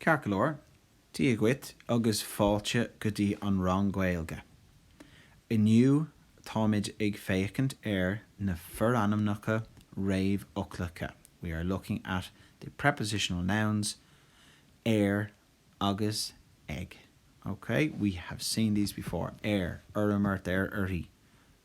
Ceart go leor, Dia dhuit agus fáilte go dtí an rang Gaeilge. Inniu táimid ag féachaint ar na forainmneacha réamhfhoclacha, we are looking at the prepositional nouns ar agus ag. Ok, we have seen these before, ar, orm, ort, air, uirthi,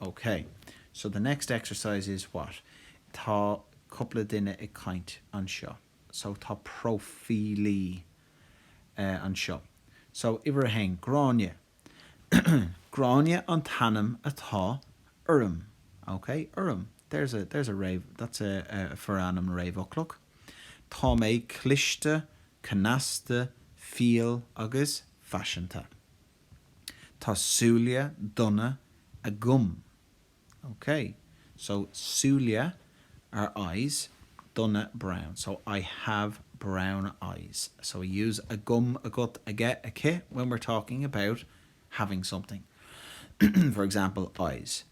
OK, so the next exercise is what? Tá cúpla duine ag caint anseo. So tá próifílí anseo. So uimhir a haon, Gráinne. Gráinne an t-ainm atá orm. OK? Orm. There's a, there's a réamh, that's a forainm réamhfhoclach. Tá mé cliste, cneasta, fial agus faiseanta. Tá súile donna agam. Ok. So, súile are eyes, donna brown. So, I have brown eyes. So, we use agam, agat, aige, aici when we're talking about having something. For example, eyes.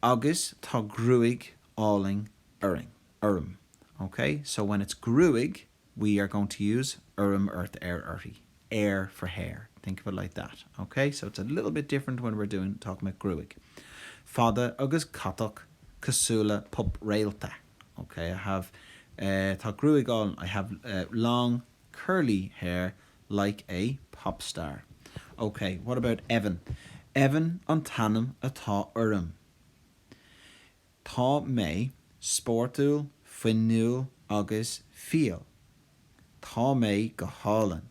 Agus tá gruaig álainn orainn, orm. Ok. So, when it's gruaig, we are going to use orm ort air uirthi air for hair think of it like that ok so it's a little bit different when we're doing talking about gruaig fada agus catach cosúil le pup réalta ok I have eh tá gruaig álainn I have eh long curly hair like a pop star ok what about Evan Evan an t-ainm atá orm Tá mé spórtúil, fuinniúil agus fial. Tá mé go hálainn.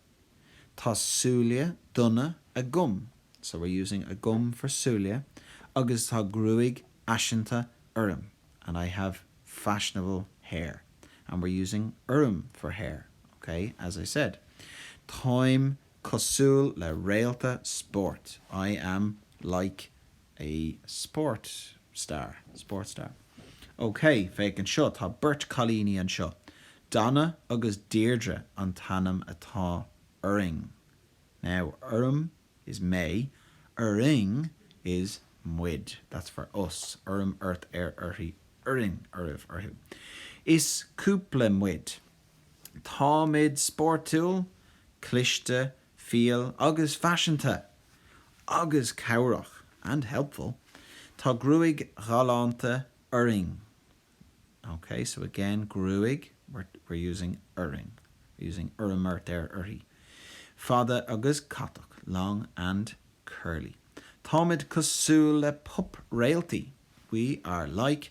Tá súile donna agam, so we're using agam for súile, agus tá gruaig fhaiseanta orm, and I have fashionable hair. And we're using orm for hair, ok, as I said. Táim cosúil le réalta spóirt, I am like a sport star, sport star. OK, féach anseo, tá beirt cailíní anseo. Donna agus Deirdre an t-ainm atá orainn. Now, orm is mé, orainn is muid. That's for us. Orm, ort, air, uirthi, orainn, oraibh, orthu. Is cúpla muid. Táimid spórtúil, cliste, Fial agus faiseanta. Agus cabhrach. And helpful. Tá gruaig ghalánta orainn. Ok, so again, gruaig, we're using orainn, we're using orm, ort, air, uirthi. Fada agus catach. Long and curly. Táimid cosúil le pop-réaltaí. We are like